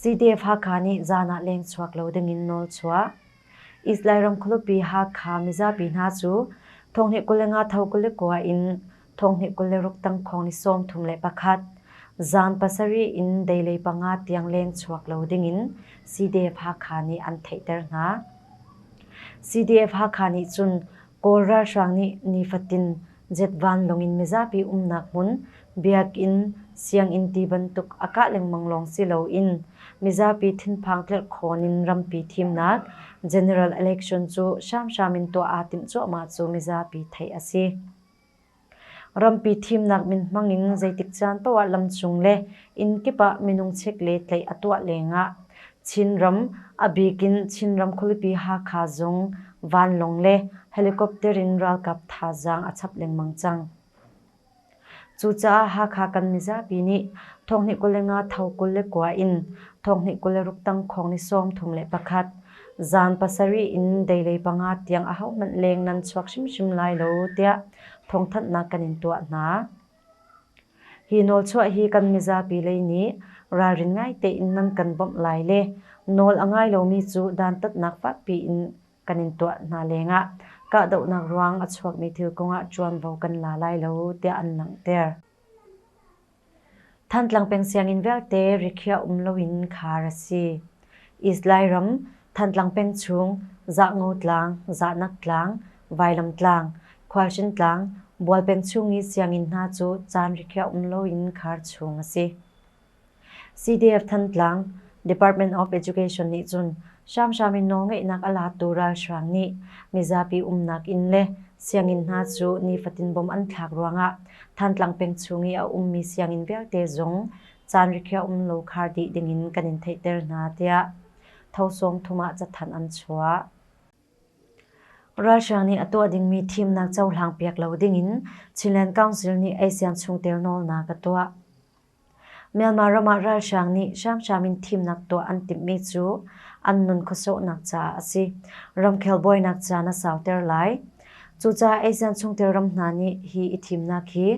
Sitefa-kha nih zan ah lengchuak lo dingin nawl chuah. Israel ram khualupi Hakha mizapi hna cu thonghnih kul le nga tho kul le kua in thonghnih kul le ruk tangkhong ni sawmthum le pakhat zan pasarih in deilei panga tiang lengchuak lo dingin Sitefa-kha nih an theihter hna. Sitefa-kha nih cun Kawl ralhrang nih nifatin Jeff vanlawng in mizapi umnak hmun, biakinn, sianginn ti bantuk a kah lengmang lawng si loin mizapi thinphang tlirhkhawn in rampi thimnak, general election, cu hramhram in tuah aa timh cuahmah cu mizapi theih a si. Rampi thimnak min hmang in zeitik caan paoh ah lam cung le inn kip ah minung chek le tlaih a tuah lengah Chinram, a bik in Chinram khualipi Hakha zung vanlawng le helicopter in ralkap thazaang a chap lengmang cang. Cucaah Hakha kan mizapi nih thonghnih kul le nga tho kul le kua in thonghnih kul le ruktang khong ni sawm thum le pakhat zan pasarih in deilei panga tiang ahohmanh leng nan chuak hrimhrim lai lo tiah thawngthanhnak kan in tuah hna. Hi nawlchuah hi kan mizapi lei nih ralrin ngai tein nan kan bawmh lai le nawl a ngai lomi cu dantatnak fakpi in kan in tuah hna lengah kahdohnak ruang a chuakmi thil kongah ṭuanvo kan la lai lo tiah an langhter. Thantlang peng sianginn vialte rikhiah um loin khar a si. Islay ram, Thantlang peng chung, Zahngo tlang, Zahnak tlang, Vailam tlang, Khualchin tlang, Bual peng chung i sianginn hna cu caan rikhiah um loin khar chung a si. CDF-Than tlang, Department of Education nih cun hramhram in nawlngeihnak a latu ralhrang nih mizapi umnak inn le sianginn hna cu nifatin bom an thlak ruangah Thantlang peng chung i a ummi sianginn vialte zong caan rikhiah um lo khar dih dingin kan in theihter hna, tiah Tho Sung thum ah cathanh an chuah. Russia nih a tuah dingmi thimnak cohlang piak lo dingin Chinland Council nih ASEAN chungtel nawlnak a tuah. Myanmar ram ah Russia nih hramhram in thimnak tuah an timhmi cu an nun khuasawhnak caah a si. Ramkhel buainak caan a sauter lai. Cucaah ASEAN chungtel ram hna nih hi i thimnak hi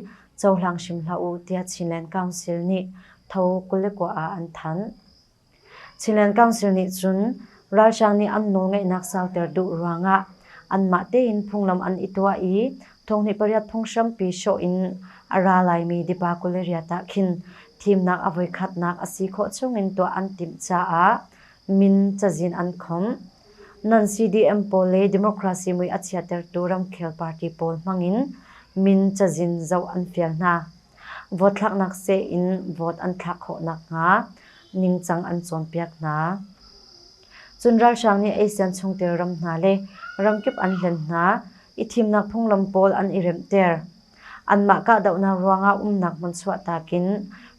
cohlang hrim hlah u tiah Chinland Council nih Tho Kulikua ah an thanh. Chinland Council nih cun ralhrang nih an nawlngeihnak sauter duh ruangah anmah tein phunglam an i tuah i thonghnih pariat phung hrampi hrawh in a ra laimi Dipa Kuleriat ah khin thimnak a voikhatnak a si khawh chungin tuah an timh caah min cazin an khomh. Non-CDM pawl le Democracy mui a chiatertu ramkhel party pawl hmangin min cazin zoh an fial hna. Vote thlaknak seh in vote an thlak khawh nakhnga ningcang an cawnpiak hna. Cun ralhrang nih ASEAN chungtel ram hna le ramkip an hlen hna i thimnak phunglam pawl an i remhter. Anmah kahdohnak ruangah umnak hmun chuahtak in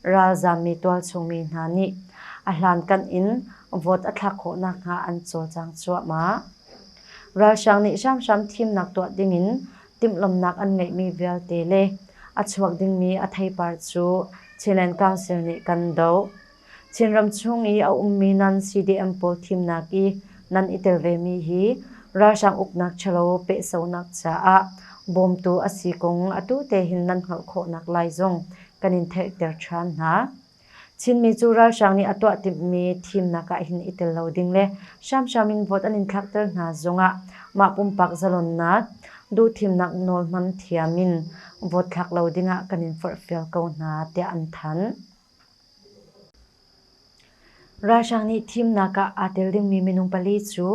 ralzaam mi tualchungmi hna nih a hlankanh in vote a thlak khawh nakhnga an cawlcang cuahmah. Ralhrang nih hramhram thimnak tuah dingin timhlamhnak an ngeihmi vialte le a chuak dingmi a theipar cu Chinland Council nih kan doh. Chinram chung i a ummi nan-CDM pawl thimnak i nan i tel vemi hi ralhrang uknak ṭhalo pehsonak caah bawmtu a si kong atu tehin nan hngalh khawhnak lai zong kan in theihter ṭhan hna. Chinmi cu ralhrang nih a tuah timhmi thimnak ah hin i tel lo ding le hramhram in vote an in thlakter hna zongah mah pumpak zalonnak, duhthimnak nawl hman thiam in vote thlak lo dingah kan in forhfial ko hna, tiah an thanh. Ralhrang nih thimnak ah aa tel dingmi minung pali cu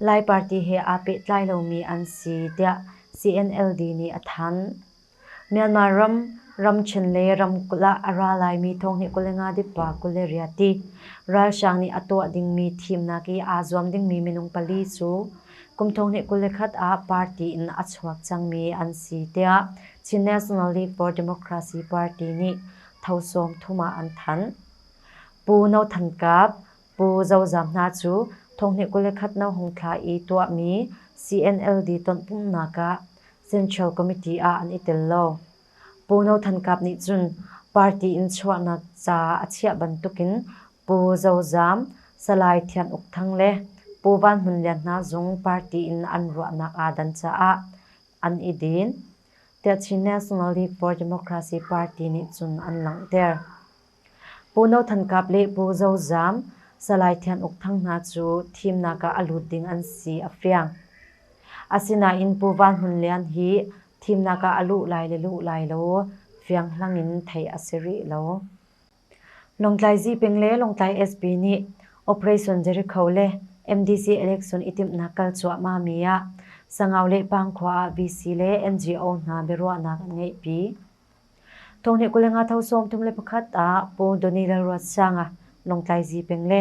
Lai party he aa pehtlai lomi an si tiah CNLD nih a thanh. Myanmar ram, ramthen le ramkulh ah a ra laimi thong hi kul le nga dip pa kul le riati ralhrang nih a tuah dingmi thimnak i aa zuam dingmi minung pali cu kum thong hi kul le khat ah party in a chuak cangmi an si tiah Chin National League for Democracy Party nih tho sawmthum ah an thanh. Pu No Than Kap, Pu Zo Zam hna cu thonghnih kul le khat no hung thla i tuahmi CNLD tonpumhnak ah Central Committee ah an i tel lo. Pu No Than Kap nih cun party in chuahnak ca a chiah bantukin Pu Zo Zam, Salai Thian Uk Thang le Pu Van Hmun Lian hna zung party in an ruahnak aa dan caah an i din. The Chin National Report Democracy Party nih cun an langhter. Pu No Than Kap le Pu Zo Zam, Salai Thian Uk Thang hna cu thimnak ah a lut ding an si a fiang. Asinain Pu Van Hun Lian hi thimnak ah a luh lai le luh lai lo fianghlang in theih a si rih lo. Lawngtlai Zipeng le Lawngtlai SP nih Operation Jericho le MDC election i timhnak kal cuahmahmi ah Sangau le Pangkhua ah VC le NGO hna biaruahnak an ngeihpi. Thawngnih kul le nga tho sawm thum le pakhat ah Pu Donnie Lalruatsanga Lawngtlai Zipeng le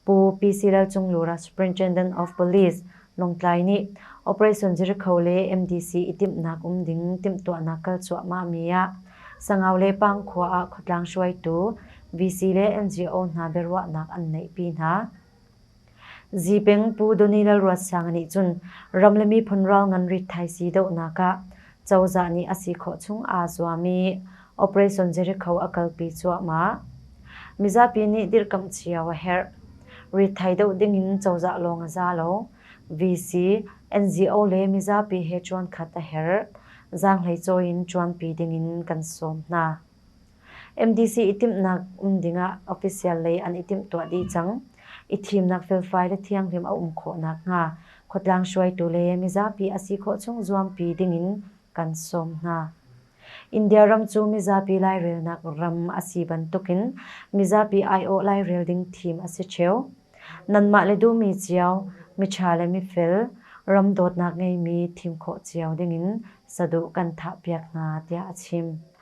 Pu PC Lalcunglura Superintendent of Police, Lawngtlai nih Operation Jericho le MDC i timhnak um ding timhtuahnak kal cuahmahmi ah Sangau le Pangkhua ah khuatlang hruaitu VC le NGO hna biaruahnak an neihpi hna. Zipeng Pu Donny Lalruatsanga nih cun ram le miphun ral ngan rit thaisi dohnak ah cozah nih a si khawh chung aa zuam i Operation Jericho a kalpi cuahmah. Mizapi nih dirhkamh cio a herh. Rithai doh dingin cozah lawng a za lo. VC, NGO le mizapi he ṭuankhat a herh. Zaanghlei cawi in ṭuanpi dingin kan sawm hna. MDC i timhnak um dingah official lei an i timhtuah dih cang. I thimnak felfai le thianghlim a um khawh nakhnga khuatlang hruaitu le mizapi a si khawh chung zuampi dingin kan sawm hna. India ram cu mizapi lairelnak ram a si bantukin mizapi aiawh lairel ding thim a si ṭheo. Nanmah le duhmi cio, miṭha le mifel, ram dawtnak ngeimi thim khawh cio dingin saduh kan thahpiak hna, tiah a chim.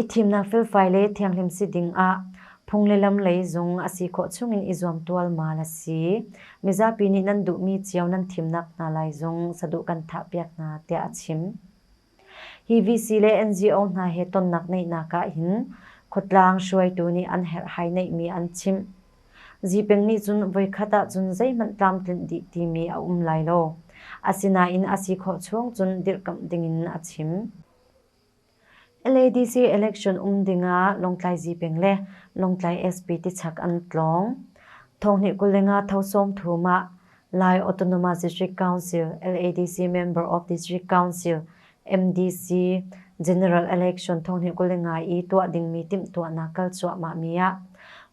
I thimnak felfai le thianghlim si dingah phung le lam lei zung a si khawh chungin i zuam tualmal a si. Mizapi nih nan duhmi cio nan thimnak hna lai zung saduh kan thahpiak hna tiah a chim. Hi VC le NGO hna he tonnak neihnak ah hin khuatlang hruaitu nih an herhhai neihmi an chimh. Zipeng nih cun voikhat ah cun zeihmanh tlamtlinh dih timi a um lai lo. Asinain a si khawh chung cun dirhkamh dingin a chim. LADC election um dingah Lawngtlai Zipeng le Lawngtlai SP tichak an tlawng. Thonghnih kul le nga tho sawm thum ah Lai Autonomous District Council LADC Member of District Council MDC General Election thonghnih kul le nga i tuah dingmi timhtuahnak kal cuahmahmi ah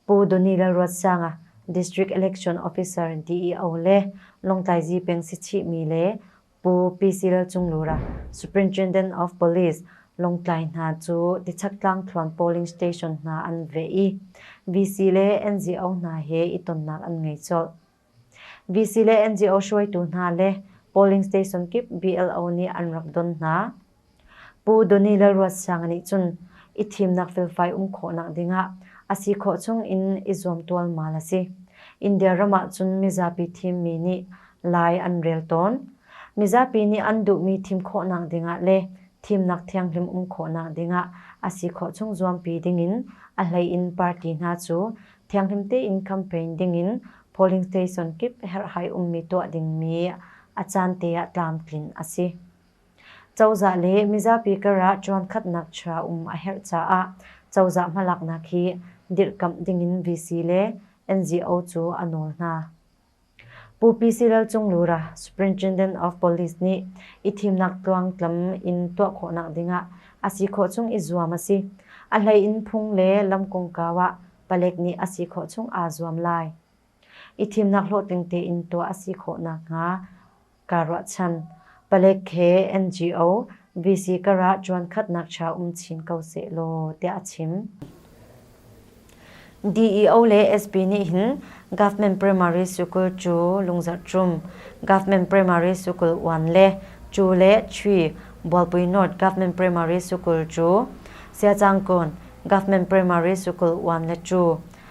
Pu Doni Lalruatsanga District Election Officer ti i o le Lawngtlai Zipeng si chihmi le Pu Pisil Cunglura, Superintendent of Police, Lawngtlai hna cu Tichaktlang Thluan Polling Station hna an veh i VC le NGO hna he i tonnak an ngei colh. VC le NGO hruaitu hna le polling station kip BLO nih an rak don hna. Pu Donny Lalruatsang nih cun i thimnak felfai um khawhnak dingah a si khawh chungin i zuam tualmal a si. India ram ahcun mizapi thimmi nih lai an rel tawn. Mizapi nih an duhmi thim khawhnak dingah le thimnak thianghlim um khawhnak dingah a si khawh chung zuampi dingin a hleiin party hna cu thianghlim tein campaign dingin polling station kip herhhai ummi tuah dingmi a caan te ah tlamtlin a si. Cozah le mizapi karah ṭuankhatnak ṭha um a herh caah cozah hmalaknak hi dirhkamh dingin VC le NGO cu a nawl hna. Pu PC Lalcunglura, Superintendent of Police nih i thimnak tluangtlam in tuah khawhnak dingah a si khawh chung i zuam a si. A hlei in phung le lam kongkau ah palek nih a si khawh chung aa zuam lai. i thimnak hlawhtling tein tuah a si khawh nakhnga kaa ruahchan. Palek he NGO VC karah ṭuankhatnak ṭha um chin ko sehlaw tiah a chim. DEO le SP nih hin Government Primary School cu lungzarhṭum, Government Primary School Uan le Cu le Chui Bualpui North Government Primary School cu Siacangkawn Government Primary School Uan le Cu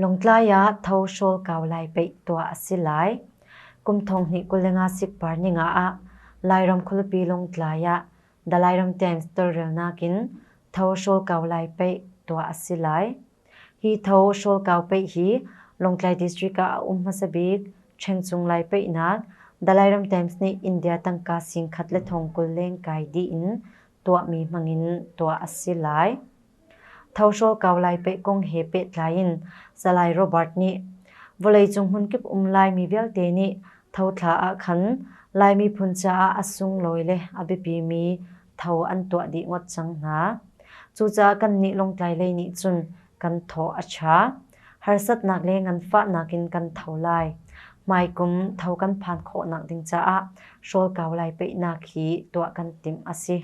Lawngtlai ah tho hrawl kau lai peih tuah a si lai. Kum thong hnih kul le nga sik par ning ah Lairam khualipi Lawngtlai ah Dalairam Times tawlrelnak in tho hrawl kau lai peih tuah a si lai. Hi tho hrawl kau peih hi Lawngtlai District ah a um hmasa bik Ṭhengcung lai peihnak Dalairam Times nih India tangka sing khat le thong kul leng kai dih in tuahmi hmang in tuah a si lai. Thohrawl kau lai peh kong he pehtlai in Salai Robert nih vawleicung hmunkip um Laimi vialte nih thothla ah khan Lai miphun caah a sunglawi le a biapimi tho an tuah dih ngawt cang hna. Cucaah kannih Lawngtlai lei nih cun kan thaw a ṭha. Harsatnak le nganfahnak in kan tho lai. Hmaikum tho kan phan khawhnak ding caah hrawl kau lai peihnak hi tuah kan timh a si.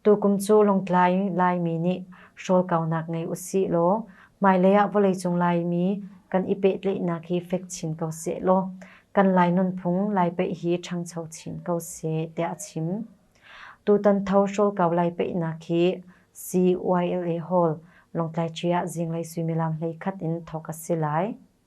Tukum cu Lawngtlai Laimi nih hrawl kaunak ngei usih law hmailei ah vawleicung Laimi kan i pehtlaihnak hi fek chin ko seh law kan Lai nunphung lai peih hi ṭhangcho chin ko seh tiah a chim. Tutan tho hrawl kau lai peihnak hi CYLA Hall, Lawngtlai Ṭi ah zinglei suimilam hleikhat in thawk a si lai.